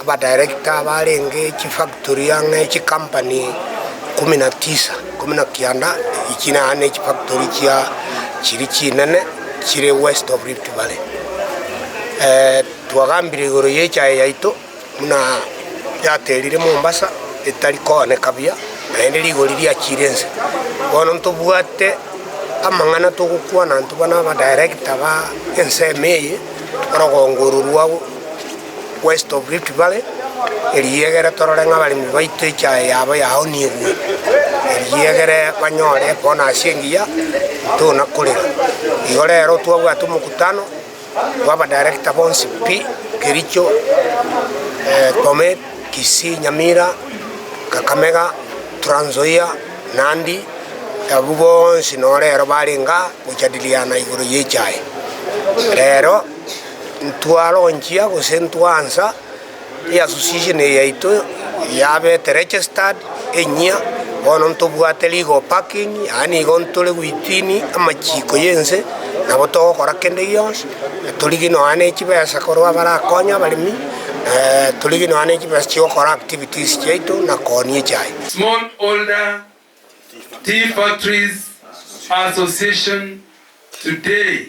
abadirector barenge chifactory ang'e chikampani ikomi na tisa ikomi na kianda echi naende nechifactory chia chiri chinene chire west of Rift valley. Twagambire igoro yechae yaito buna yaterire Mombasa etari kooneka buya naende rigori riachire ense. Bono ntobwate amang'ana togokwana intwe buna abadirector ba ensemo eye orogongo oro rwabo. West of Rift Valley, erio egere torore ng'a abaremi baito echae yabo yaonigwe, erio egere banyore ekona ase engiya, tona korera. Igo rero twabwate omokutano bwa abadirector bonsi pi, Kericho, eh, Bomet, Kisii, Nyamira, Kakamega, Trans Nzoia, Nandi, abwo bonsi noro rero barenge aa gojadiliana igoro y'echae. Rero. ntwaronchia gose ntwaansa e association eye yaito yabete registered enyia bono ntobwate legal backing yaani igo ntore within amachiiko y'ense nabo togokora kende gionsi torigia nonya na echibesa korwa abarakonya abaremi torigia nonya na echibesa chiokora activities chiaito na koonia echae. Small holder tea factories association today.